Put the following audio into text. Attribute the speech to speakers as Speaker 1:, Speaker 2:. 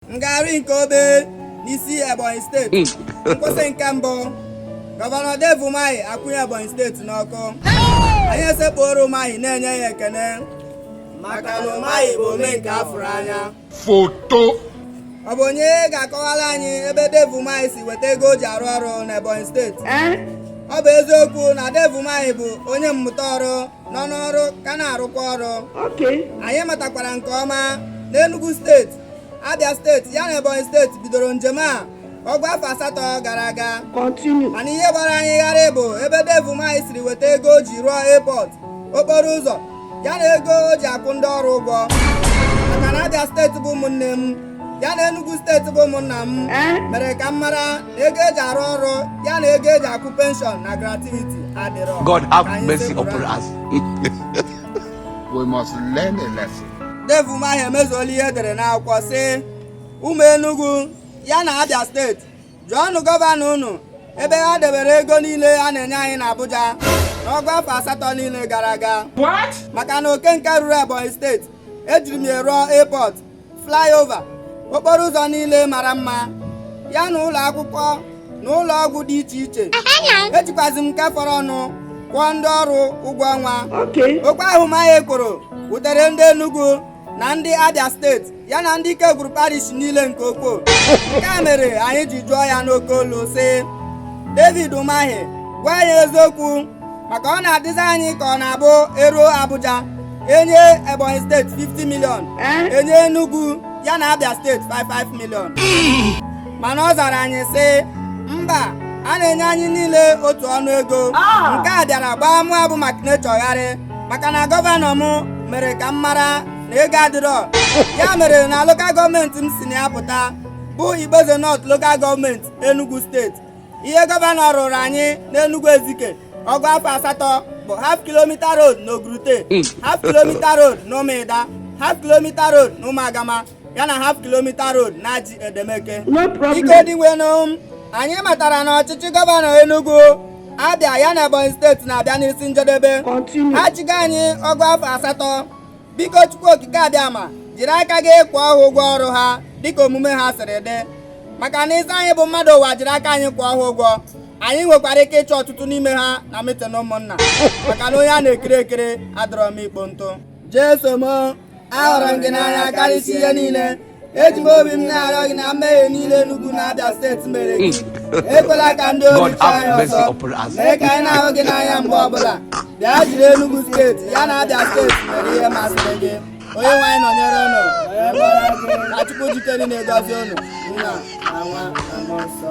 Speaker 1: ngagharị nke obe n'isi ebonyi steeti hmm. nkwụsị nke mbụ gọvanọ Dave Umahi akwụnye ebonyi steeti n'ọkụ anyị esekpuoro Umahi na-enye ya ekene maka na Umahi bụ ome nke afụrụ anya
Speaker 2: foto ọ
Speaker 1: bụ onye ga-akọwara anyị ebe Dave Umahi si weta ego o ji arụ ọrụ n'ebonyi steeti eh? ọ bụ eziokwu na Dave Umahi bụ onye mmụta ọrụ nọ n'ọrụ ka na-arụkwa ọrụ anyị matakwara nke ọma na Enugu steeti Abia steeti ya na Ebonyi steeti bidoro njem a ọgụ afọ asatọ gara aga mana ihe gbara anyị gharịị bụ ebe Dave Umahi siri weta ego o ji rụọ airport okporo ụzọ ya na ego o ji akwụ ndị ọrụ ụgwọ maka na Abia steeti bụ ụmụnne m ya na Enugu steeti bụ ụmụnna m eh? mere ka m mara na ego eji arụ ọrụ ya na ego eji akwụ penshọn na gratuity adịrọ God have mercy
Speaker 2: upon us. We must learn a lesson. Dave Umahi
Speaker 1: emezuola ihe edere n'akwụkwọ sị ụmụ Enugu ya na Abia steeti jụọnụ gọvanọ unu ebe ha debere ego niile a na-enye anyị n'Abuja n'ọgụ afọ asatọ niile gara aga maka na oke nke ruru Ebonyi steeti ejiri m ya rụọ airport flyover okporo ụzọ niile mara mma ya na ụlọ akwụkwọ na ụlọ ọgwụ dị iche iche ejikwazi m nke fọrọnụ kwụọ ndị ọrụ ụgwọ ọnwa okwu ahụ Umahi kwuru wutere ndị Enugu na ndị Abia steeti ya na ndị ike gwuru parish niile nke ukwu nke a mere anyị ji jụọ ya n'oke olu sị David Umahi gwa anyị eziokwu maka ọ na-adịzi anyị ka ọ na-abụ eruo Abuja enye Ebonyi steeti 50 milion eh? enye Enugu ya na Abia steeti 5 5 milion mana ọ zara anyị sị mba a na-enye anyị niile otu ọnụ ego ah! nke a bịara gbaa mụ abụ maka na-echọgharị maka na gọvanọ m mere ka m mara na ego adịrọ ya mere na lokal gọọmenti m si na ya pụta bụ Igboeze North lokal gọọmenti Enugu steeti ihe gọvanọ rụrụ anyị n'Enugu Ezike ọgụ afọ asatọ bụ half kilomita road na Ogurute hmm. half kilomita road na Ụmụịda half kilomita road na Ụmụagama ya na half kilomita road na Aji Edemeke biko Dinwenụ anyị matara na ọchịchị gọvanọ Enugu Abia ya na Ebonyi steeti na-abịa n'isi njedebe ha chịgo anyị ọgụ afọ asatọ biko Chukwu Okike Abịama jiri aka gị kwụọ ha ụgwọ ọrụ ha dịka omume ha siri dị maka na ị sị anyị bụ mmadụ ụwa jiri aka anyị kwụọ ha ụgwọ anyị nwekwara ike ịchụ ọtụtụ n'ime ha na mitin ụmụnna maka na onye a na-ekiri ekiri adịrọ mma ikpo ntụ Jeso m ahụrụ m gị n'anya karịsịa ihe niile eji m obi m na-arịọ gị na mmehie niile Enugu na Abia steeti mere gị ekwela ka ndị ori chọọ anyị ọzọ mee ka anyị na-ahụ gị n'anya mgbe ọbụla bịa jiri Enugu steeti ya na Abia steeti mere ihe masịrị gị onye nwe anyị nọnyere ụnụ ka Chukwu ji ike niile gọzie ụnụ nna na nwa na mmụọ nsọ